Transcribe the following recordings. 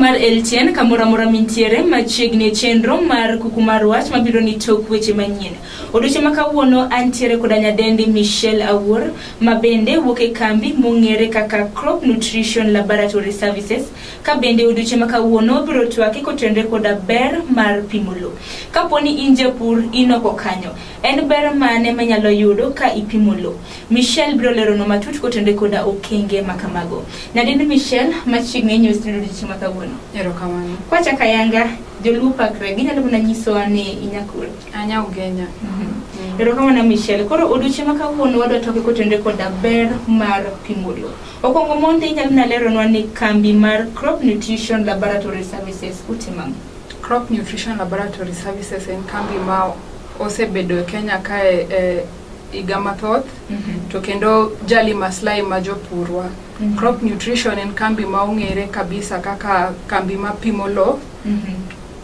mar LTN kamoro amora mintiere machiegni e chenro mar kuku mar wach mabiro ni tok weche manyien. Odiochieng' ma kawuono antiere koda nyadendi Michelle Awuor ma bende wuok e kambi mong'ere kaka Crop Nutrition Laboratory Services ka bende odiochieng' ma kawuono biro twake kotenre koda ber mar pimo lowo. Kapo ni in japur inoko kanyo, en ber mane manyalo yudo ka ipimo lowo? Michelle biro leronwa matut kotende koda okenge ma kamago. Nyadendi Michelle machiegni inyo studio dichi ma kawuono. Erokamano. Kwachaka yanga joluo pakre ginyalo mana nyisowa ni inyakul. Anya ugenya. Mhm. Erokamano Michelle. Koro odiochieng' ma kawuono wadwa toke kotende koda ber mar pimo lowo. Okwongo mondi inyalo na leronwa ni kambi mar Crop Nutrition Laboratory Services utimo ang'o? Crop Nutrition Laboratory Services en kambi ma osebedo e Kenya kae eh, higa mathoth mm -hmm. to kendo Jali Maslai ma jopurwa mm -hmm. Crop Nutrition en kambi ma ong'ere kabisa kaka kambi ma pimo lowo mm -hmm.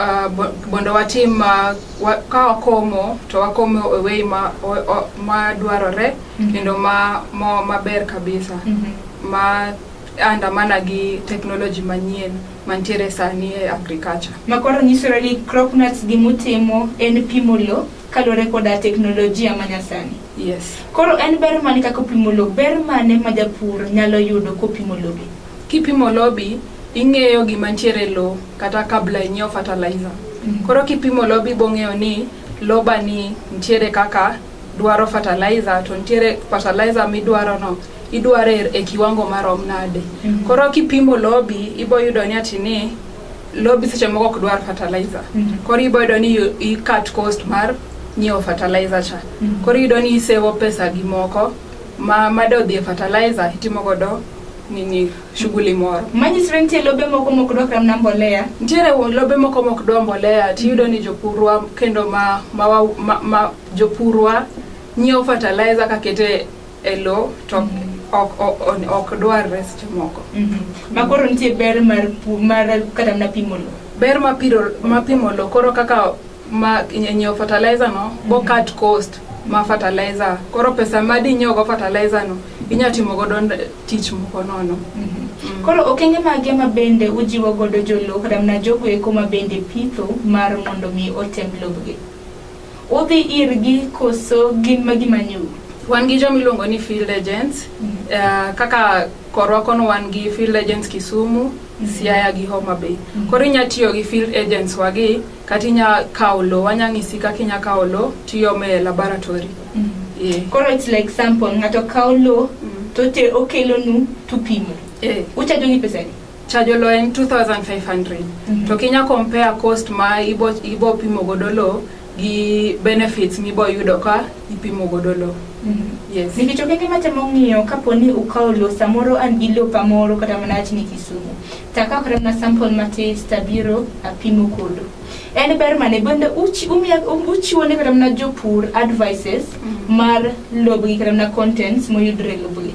Uh, mondo watim uh, wa, ka wakomo to wakomo e wei ma, ma dwarore mm -hmm. kendo ma, ma, maber kabisa mm -hmm. ma andamana gi technology manyien mantiere sani e agriculture. Makoro nyisore ni Cropnuts gimutimo en pimo lowo kaluwore koda teknolojia manyasani. Yes. Koro en ber mane kaka opimo lowo, ber mane ma japur nyalo yudo kopimo lobe? Kipimo lobi, ing'eyo gima ntiere lowo kata kabla inyiew fertilizer. Mm -hmm. Koro kipimo lobi bong'eyo ni lobani ntiere kaka dwaro fertilizer to ntiere fertilizer midwaro no idware e kiwango marom nade. Mm -hmm. Koro kipimo lobi iboyudo ni ati ni lobi seche moko ok dwar fertilizer mm -hmm. koro ibo yudo ni i cut cost mar nyiewo fertilizer cha mm -hmm. koro iyudo ni isevo pesa gi moko ma made odhi e fertilizer itimo godo nini shughuli moro manyisore nitie lobe moko mok dwa kamna mbolea nitiere lobe moko mok dwa mbolea tiyudo ni jopurwa kendo ma, ma, ma, ma jopurwa nyiewo fertilizer kakete e lo to ok ok- ok- ok dwarre seche moko ma koro nitie ber mar pu- mar kata mana pimo lo ber mapiro mapimo lo koro kaka ma nyiewo fertilizer no bo cut cost ma fertilizer koro pesa ma dinyiewo go fertilizer no inya timo godo nd- tich moko nono koro okenge mage ma bende ujiwo godo jolo kata mana jogo eko ma bende pitho mar mondo mi otem lobgi Udhi irgi koso gin ma gima nyu? Wan gi joma iluongo ni field agents. Mm -hmm. uh, kaka korwa kono wan gi field agents Kisumu, mm -hmm. Siaya gi Homa Bay. Mm -hmm. Koro inya tiyo gi field agents wagi kata inya kawo lo, wanya ng'isi kaka inya kawo lo tiyome e laboratory. Mm -hmm. yeah. Koro it's like sample, ng'ato kawo lo mm -hmm. to te okelonu tupimo. Yeah. Uchajogi pesa ni? chajo lo en 2500 mm -hmm. to kinya compare cost ma ibo, ibo pimo godo lo gi benefits mibo yudo ka ipimo godo lo mm -hmm. yes. nikech okenge matemo ng'iyo kapo ni ukawo lo samoro an gi lo pamoro kata mana wach ni kisumu takawo kata mana sample matis tabiro apimo kodo en ber mane bende um, uchiwo ne kata mana jopur advices mm -hmm. mar lobgi kata mana contents moyudre lobgi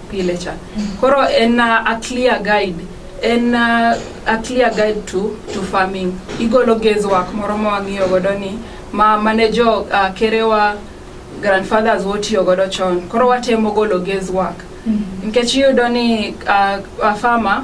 pile cha koro en uh, a clear guide en uh, a clear guide to, to farming igolo gezwak moro ma wang'iyo godo ni ma mane jo uh, kerewa grandfathers wotiyo godo chon koro watemo golo gezwak nikech iyudo ni uh, a farmer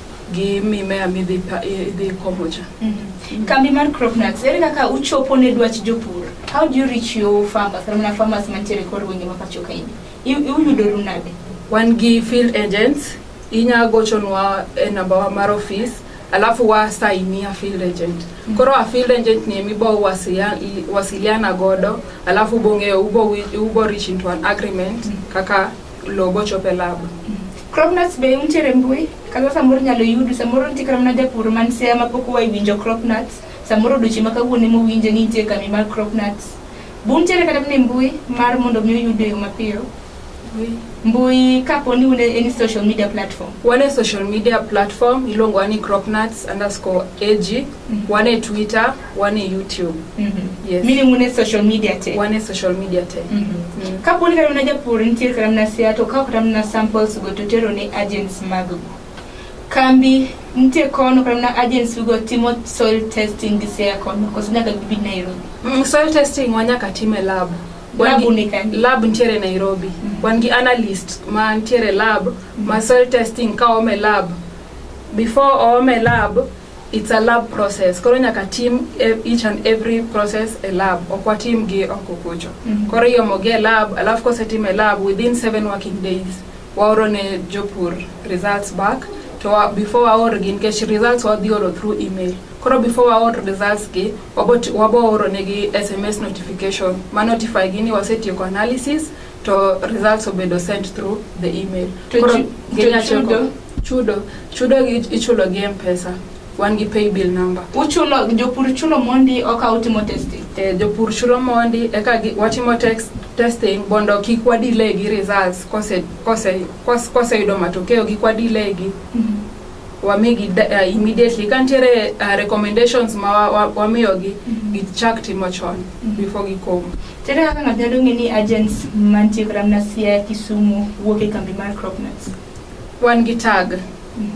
gi mimea midhi idhi komo cha. Mm -hmm. Kambi mar Cropnax ere kaka uchopo ne dwach jopur? How do you reach your farmers? Kama na farmers mantiere kor wenge ma pacho kae. Uyudoru nade? Wan gi field agents inya gochonwa e namba wa mar office alafu wasainia field agent mm -hmm. koro a field agent ni emi bo wasiliana godo alafu bong'eyo ubo, ubo reach into an agreement mm -hmm. kaka lobo chope lab mm -hmm. Cropnuts be untiere e mbui? Kata samoro nyalo yudu, samoro nitie kata mana japur man Siaya ma pok oa winjo cropnuts, samoro duchi ma kawuono ema owinje ni nitie kambi mar cropnuts. Be untiere kata mana e mbui mar mondo mi oyudu e yo mapiyo? Mbui kapo ni un e any social media platform. Wan e social media platform iluongowa ni cropnuts underscore ag, wan e Twitter, wan e YouTube. Mm -hmm. Yes. Meaning wan e social media te. Wan e social media te. Mm -hmm. mm. Kapo ni kata mana japur nitiere kata mana sia to kawo kata mana samples go to tero ne agents mag kambi nitie kono kata mana agents go timo soil testing gi sia kono koso nyaka gibi Nairobi. Mm, soil testing wanyaka tim e lab. Lab unikani. Lab nitiere Nairobi. Mm -hmm. Wan gi analyst ma nitiere lab mm -hmm. ma soil testing kawo me lab. Before oome lab It's a lab process. Koro nyaka tim e, each and every process a lab. Ok watim gi oko kucho. Mm -hmm. Koro iomogi e lab, alafu kosetim e lab within seven working days waoro ne jopur results back to wa, before waor gi nikech results wadhi oro through email. Koro before waor results gi wabo oro negi SMS notification ma notify gi ni wasetieko analysis to results obedo sent through the email to koro genya chudo chudo chudo ichulo gi mpesa wan gi pay bill number uchulo jopur chulo mondi oka utimo testing eh, jopur chulo mondi eka watimo text testing bondo kik wadile gi results kose kose kose, kose yudo matokeo kik wadile gi mm -hmm. wamigi uh, immediately kantiere uh, recommendations ma wamiyogi mm -hmm. gichak timo chon mm -hmm. before gikomo To ere kaka ng'ato nyalo ng'e ni agents mantie kata mana Siaya, Kisumu wuok e kambi mar Cropnuts? Wan gi tag.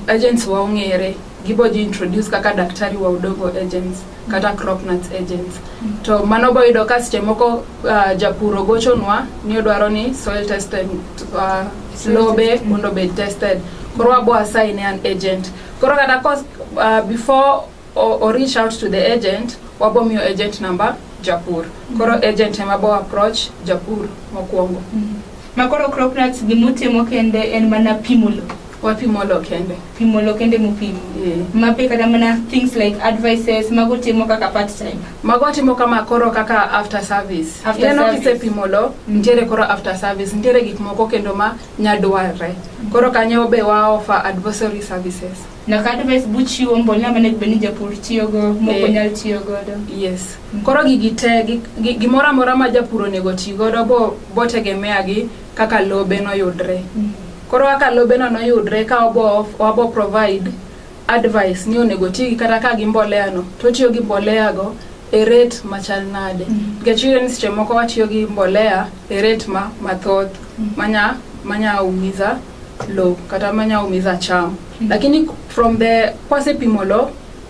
Agents wa ong'ere. Gibo ji introduce kaka daktari wa Udogo agents kata Cropnuts agents. To mano bo yudo ka seche moko ah, japur ogochonwa ni odwaro ni soil tested ah, Soil lobe tested. mondo obed tested. Koro wabo assign ne an agent. Koro kata kos- ah, before or, or reach out to the agent wabomiyo agent number japur koro mm-hmm. agent ema bo approach japur mokwongo mm -hmm. ma koro crop nuts gimutimo kende en mana pimo lo wapimo lo kende pimo lo kende mupimo yeah. mape kata mana things like advices mago timo kaka part time mago timo kama koro kaka after service after Yeno service kisepimo lo mm-hmm. nitiere koro after service nitiere gik moko kendo ma nyadwarre mm -hmm. koro kanyo be waofa advisory services Nyaka advice buchiwo mbolea mane bed ni japur tiyo go moko Eh. nyal tiyo godo. yes koro gigi te gi- gi- gimoro amora ma japur onego ti godo bo- botegemea gi kaka lobe noyudre koro kaka lobeno noyudre ka wabo wabo provide advice ni onego ti gi kata ka gi mbolea no to tiyo gi mbolea go e rate machal nade Mhm. nikech iyudo ni seche moko watiyo gi mbolea e rate ma mathoth manya manya umiza lo kata manya umiza cham mm -hmm. lakini from the kwasepimo lo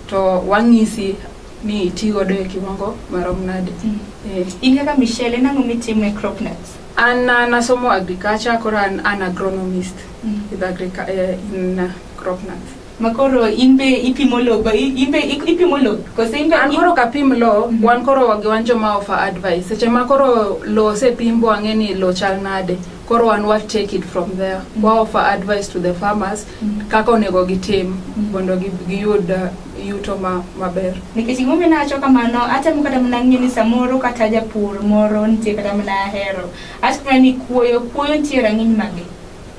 to wang'isi ni iti godo e kiwango marom nade mm -hmm. eh. in kaka michelle en ang'o mitimo e crop nuts an uh, nasomo agriculture koro an an agronomist mm -hmm. with agric uh, in uh, crop nuts makoro in be ipimo lo ba- i- in be ik- ipimo lo kose in be an koro kapim lo wan koro wagi wan joma offer advice seche ma koro lo osepim bwang'e ni lo chal nade koro wan wa take it from there wa offer advice to the farmers kaka onego gitim mondo gi- giyud uh, yuto ma- maber nikech gimomiyo nawacho kamano atemo kata mana ng'eyo ni samoro kata japur moro nitie kata mana ahero acho mana ni kuoyo kuoyo nitie rang'iny mage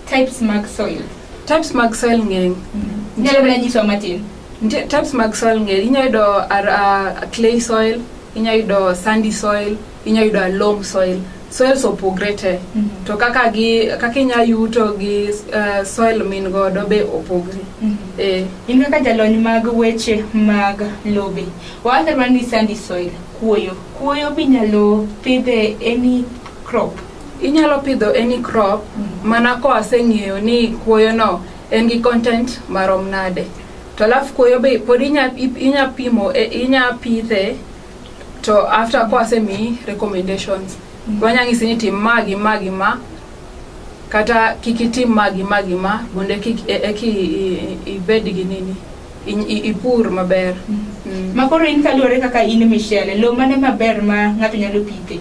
Types mag soil. Types mag soil ng'eny. Mm-hmm. Nyalo mana nyiso matin. Nitie types mag soil ng'eny. Inyalo yudo uh, clay soil, inyalo yudo sandy soil, inyalo yudo loam soil. Soils opogre te. Mm -hmm. To kaka gi kaka inyalo yuto gi uh, soil min godo be opogre. Mm -hmm. Eh. In kaka jalony mag weche mag lobe. Wawacho ni sandy soil, kuoyo. Kuoyo binyalo pidhe any crop. Inyalo pidho any crop mana koseng'eyo ni kuoyono en gi content marom nade. To alafu kuoyo be pod inya ip- inya pimo e- inya pidhe to after kosemiyi recommendations. Wanya ng'isi ni tim ma gi ma gi ma kata kik itim ma gi ma gi ma mondo eki e- eki i- i- ibed gi nini i- i- ipur maber. Mm. Ma koro in kaluwore kaka in Michelle, lo mane maber ma ng'ato nyalo pithe?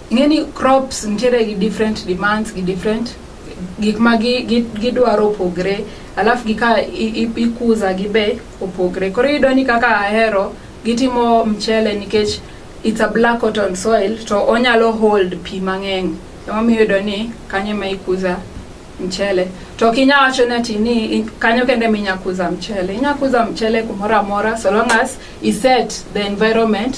Ing'e ni crops nitiere gi different demands gi different gik ma gi- gi- gidwaro opogre alafu gika i- i- ikuza gi be opogre koro iyudo ni kaka ahero gitimo mchele nikech it's a black cotton soil to onyalo hold pi mang'eny emomiyo iyudo ni kanyo ema ikuza mchele to ok inya wacho ni ati ni i- kanyo kende ema inya kuza mchele inya kuza mchele kumoro amora so long as iset the environment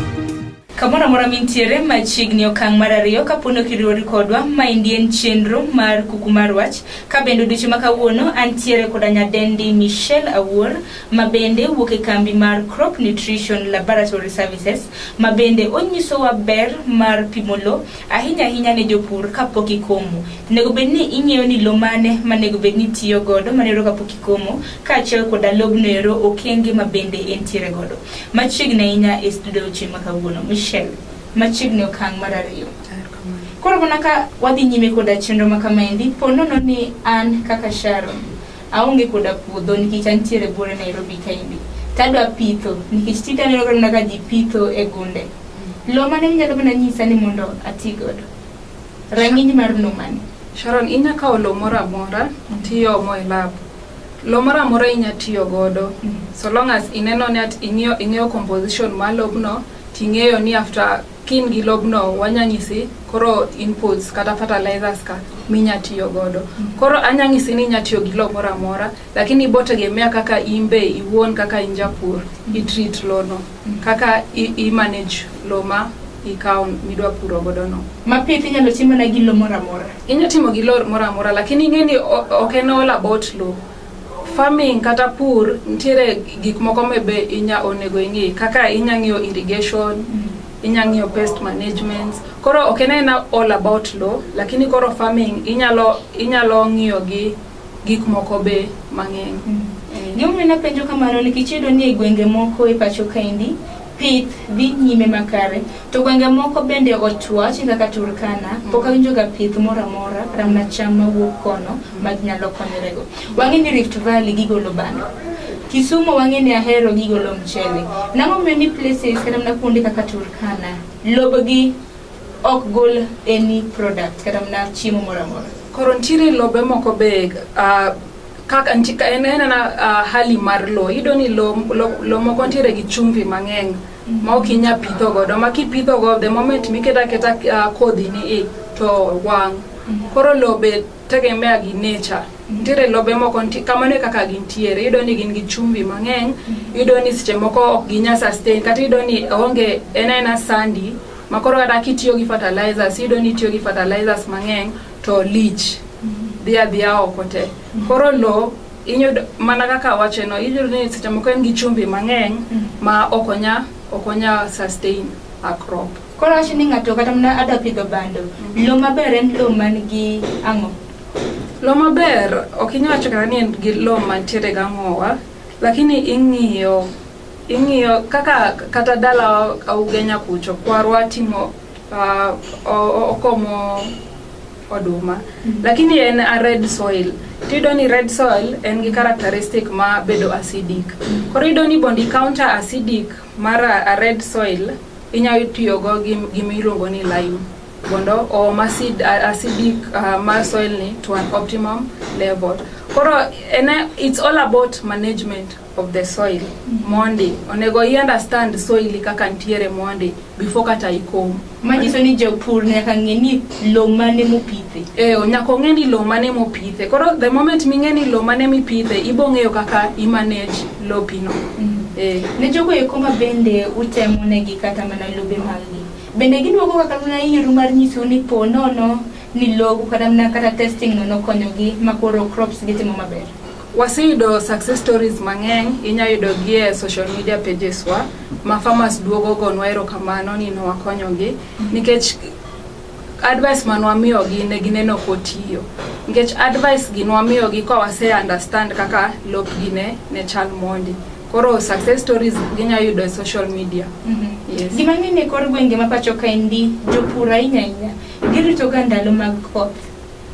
Kamoro amora mintiere machiegni okang' mar ariyo kaponi ok iriwori kodwa ma endi en chenro mar kuku mar wach ka bende odiochieng' ma kawuono antiere koda nyadendi Michelle Awuor ma bende wuok e kambi mar Crop Nutrition Laboratory Services ma bende onyisowa ber mar pimo lo ahinya ahinya ne jopur kapok ikomo. Onego bed ni ing'eyo ni lo mane manego bed ni itiyo godo manero kapok ikomo kaachiel koda lobno ero okenge ma bende entiere godo. Machiegni ahinya e studio ochieng' ma kawuono, Michelle, machiegni okang' mar ariyo. Koro mana ka wadhi nyime koda chenro ma kamaendi, po nono ni an kaka Sharon, aonge koda puodho nikech antiere bore Nairobi kaendi. Tadwa pitho, nikech tinde aneno ka mana ka ji pitho e gunde. Lo mane minyalo mana nyisa ni mondo ati godo? Rang'iny mar numani. Sharon, inya kawo lo moro amora mm. tiyomo e lab. Lo moro amora inya tiyo godo mm. so long as ineno ni at ing'eyo ing'eyo composition mar lobno ting'eyo ni after kin gi lobno wanya nyisi koro inputs kata fertilizers ka minya tiyo godo mm. koro anya nyisi ni inya tiyo gi lo moro amora lakini ibotegemea kaka imbe iwuon kaka injapur itreat lono Kaka i manage lo ma ikawo midwa puro godo no. Ma pith inyalo timo na gi lo moro amora. Inyalo timo gi lo moro amora lakini ing'e ni ok en all about lo. Farming kata pur nitiere gik moko me be inya onego ing'e kaka inya ng'iyo irrigation, mm. inya ng'iyo pest management. Koro ok en aena all about lo lakini koro farming inyalo inyalo ng'iyo gi gik moko be mang'eny. Mm. Eh. Gimomiyo napenjo kamano nikech iyudo ni e gwenge moko e pacho kaendi pith dhi nyime makare to gwenge moko bende ochuach kaka Turkana mm. pok awinjoga pith moro amora kata mana cham mawuok kono mm. ma nyalo konyorego. Wang'e ni Rift Valley gigolo bando. Kisumu wang'e ni ahero gigolo mchele. Nang'o miyo ni places kata mana kuonde kaka Turkana lobgi ok gol any product kata mana chiemo moro amora. Koro nitiere lobe moko be uh, kaka en en ana uh, hali mar lo iyudo ni lo, lo, lo moko nitiere gi chumvi mang'eny mm. ma ok inya pitho godo ma kipitho go the moment miketa keta uh, kodhi ni i to wang' mm. koro lobe tegemea gi nature nitiere lobe moko kamano e kaka gintiere iyudo ni gin gi chumbi mang'eny mm-hmm. iyudo ni seche moko ok ginya sustain kata iyudo ni onge en aena sandi Makoro kata kitiyo gi fertilizers, iyudo ni itiyo gi fertilizers mang'eny to lich dhi adhiya oko te. Koro lo inyudo mana kaka wache no iyudo ni seche moko en gi chumbi mang'eny ma ok onya ok onya sustain a crop. Koro wacho ni ng'ato kata mana adwa pidho bando, lo maber en lo man gi ang'o? Lo maber ok inyal wacho kata ni en gi lo mantiere gang'owa, lakini ing'iyo Ing'iyo kaka kata dalawa Ugenya kucho kwarwa timo uh, o- okomo oduma lakini en a red soil tiyudo ni red soil en gi characteristic ma bedo acidic koro iyudo ni bondi counter acidic mar a a red soil inyalo tiyogo gi gima iluongo ni lime mondo oom acid, a- acidic uh, mar soil ni to an optimum level koro ene it's all about management of the soil mondi onego i understand soil kaka ntiere mondi before kata ikom manyiso ni japur nyaka ng'e ni lowo mane mopithe eh nyaka ong'e ni lowo mane mopithe koro the moment ming'e ni lowo mane mipithe ibo ng'eyo kaka i manage lopino mm. eh. ne jogo eko ma bende utemo negi kata mana lobe maggi bende giduogo kaka mana iru mar nyiso ni po nono ni logo kata mana kata testing nono konyogi makoro crops gitimo maber Waseyudo success stories mang'eny, inya yudo gi e social media pages wa, ma farmers duogo gonwa erokamano ni nwakonyogi, nikech advice ma nwamiyogi ne gineno kotiyo. Nikech advice gi nwamiyogi ka wase understand kaka lopgi ne, ne chal mondi. Koro success stories ginya yudo e social media. Yes. Gima ng'eny e kor gwenge ma pacho kaendi, jopur ahinya ahinya, giritoga ndalo mag koth.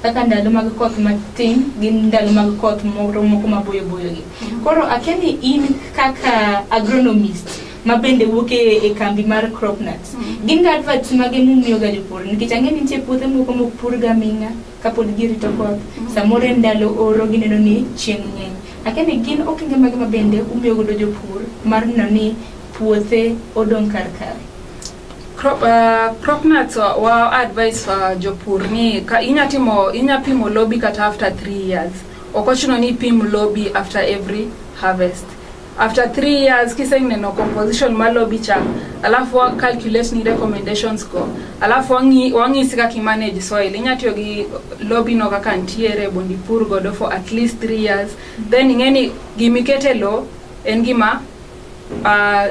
kaka ndalo mag koth matin gi ndalo mag koth moro moko maboyo boyo gi. Koro akia ni in kaka agronomist ma bende wuok e, e kambi mar crop nuts. Mm. Gin ga adverts mage mumiyo ga jopur nikech ang'e ni nitie puothe moko mok pur ga ming'a kapod girito koth. Mm. Samoro e ndalo oro gineno ni chieng' ng'eny. Akia ni gin okenge mage ma bende umiyo godo jopur mar neno ni puothe odong' kar kare. crop, uh, crop nuts wa, wa advice wa jopur ni ka inya timo inya pimo lobi kata after 3 years okochuno ni pim lobi after every harvest after 3 years kiseneno composition ma lobi cha alafu wa calculate ni recommendations go alafu wangi wangi sika ki manage soil inya tiyo gi lobi no kaka ntiere bondi pur godo for at least 3 years then ingeni gimikete lo en gima uh,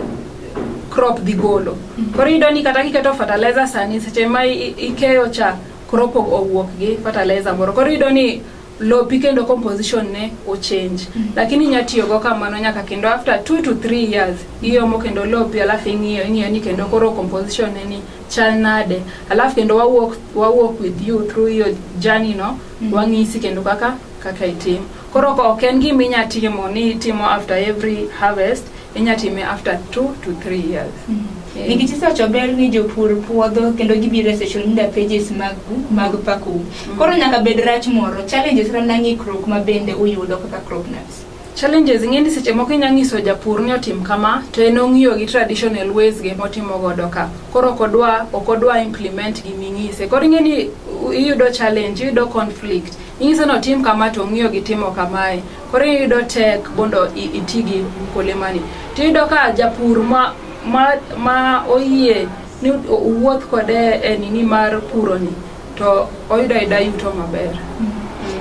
crop dhi golo. Mhm. Koro iyudo ni kata kiketo fertilizer sani seche ma ikeyo cha crop owuok gi fertilizer moro. Koro iyudo ni lopi kendo composition ne o change mm -hmm. lakini inya tiyo go kamano nyaka kendo after 2 to 3 years iyomo kendo lopi alafu ing'iyo ing'iyo ni kendo koro composition ne ni chal nade alafu kendo wa walk, wa walk with you through your journey no mm -hmm. wang'isi kendo kaka kaka itim Koro ok en gima inya timo ni itimo after every harvest, inya time after two to three years. Mm -hmm. yeah. Nikech isewacho ber ni jopur puodho kendo gibiro e social media pages mag mag paku. Mm -hmm. Koro nyaka bed rach moro, challenges ra na ng'ikruok ma bende uyudo kaka crop nuts. Challenges ng'eni seche moko inya ng'iso japur ni otim kama to en ong'iyo gi traditional ways ge motimo godo ka. Koro kodwa okodwa implement gi ming'ise. Koro ng'eni iyudo challenge, iyudo conflict. Inyiso ni otim kama to ong'iyo gi timo kamae. Koro iyudo tek mondo iti gi olemani. To iyudo ka japur ma, ma, ma oyie ni owuoth kode e nini mar puroni to oyudo ayuda yuto maber.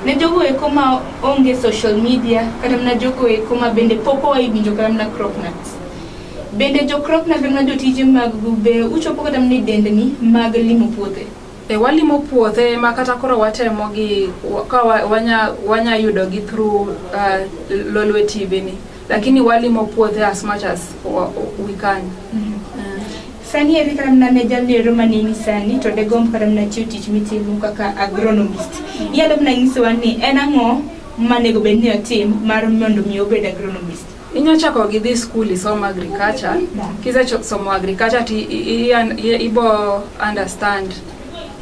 Ne jogo eko ma onge social media kata mana jogo eko ma bende pok oa winjo kata mana crop nuts. Bende jo crop nuts kata mana jotije mag be uchopo kata mana e dendni mag limo puothe. E, walimo puothe ma kata koro watemo gi ka wanya, wanya yudo gi through uh, Lolwe TV ni lakini walimo puothe as much as we can mm -hmm. uh. Sani eri kata mna ne jalni ero manini sani to de gomb kata mna chiwo tich mitimo kaka agronomist mm -hmm. iyalo mna nyisowa ni en ang'o manego bed ni otim mar mondo mi obed agronomist Inya chako gi dhi skul isom agriculture. Kise somo agriculture ti ibo understand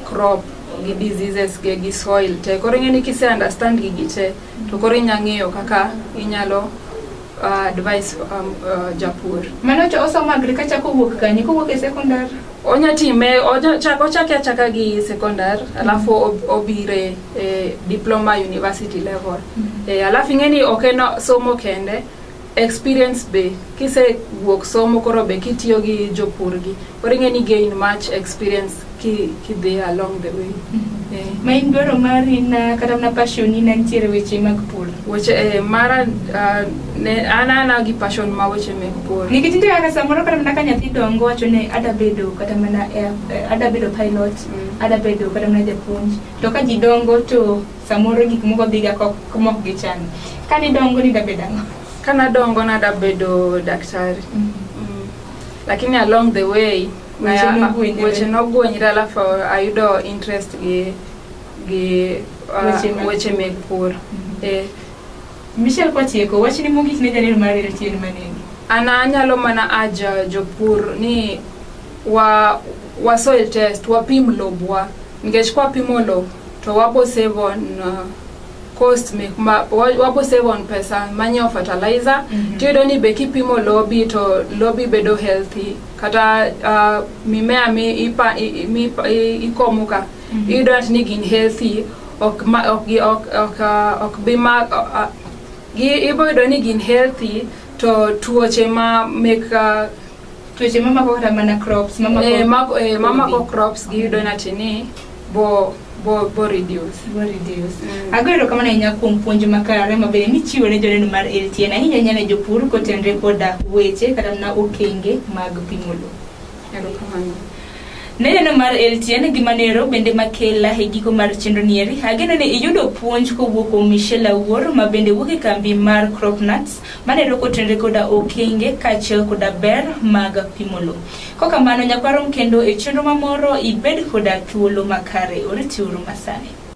crop gi diseases ge gi soil te koro ing'e ni kise understand gigi te to koro inya ng'eyo kaka inyalo uh, advice um, uh, japur mano to osomo agriculture kowuok kanye kowuok e secondary onya time ochak ochake achaka gi secondary alafu obire e, diploma university level mm -hmm. e, alafu ing'eni ok en somo kende experience be kise wuok somo koro be kitiyo gi jopurgi koro ing'eni gain much experience ki, ki dhi along the way mm -hmm. e. ma in dwaro mari na kata mna passion ni nantiere weche mag pur weche e, mara uh, ne an ana gi passion ma weche meg pur nikech nitie kaka samoro kata mana ka nyathi dongo wacho ni ada bedo kata mana eh, ada bedo pilot mm. ada bedo kata mana japuonj To ka ji dongo to samoro gik moko dhiga mok gichano. Ka nidongo nidabed ang'o? Ka nadongo nadabedo daktari. Mm. Mm. Lakini along the way weche nogwenyre alafu ayudo interest gi gi uh, weche meg pur. Mm. Eh, Michelle Kwacheko, wachni mogik ne jaler mar welo chien maneni. An anyalo mana aja jopur ni wa, wa soil test, wapim lobwa. Nikech kwa pimo lob, to wabo save on uh, cost me, ma, wa- wabo save on pesa manyo fertilizer. Mhm. Tiyudo ni be kipimo lobi to lobi bedo healthy. Kata uh, mimea mi ipa, i, i- mi, i, ikomo ka, Mhm. iyudo ni gin healthy ok ma ok gi ok ok uh, ok bi ma uh, uh, gi ibo yudo ni gin healthy to tuoche ma mek uh, tuoche ma mako kata mana crops ma mako eh, mako eh, ma mako crops gi yudo na tini bo bo bo reduce bo reduce mm. ago ero kamano ahinya kuom puonj makare ma bende michiwo ne joneno mar LTN ahinya ahinya ne jopur kotenre koda weche kata mana okenge mag pimo lowo Erokamano. Neneno mar LTN gi manero bende makela e giko mar chenro nieri. Ageno ni iyudo puonj kowuok kuom Michelle Awuor ma bende wuok e kambi mar Crop Nuts manero kotenre koda okenge kaachiel koda ber mag pimo lowo. Kokamano nyakwarom kendo e chenro mamoro ibed koda thuolo makare. Oritiuru masani.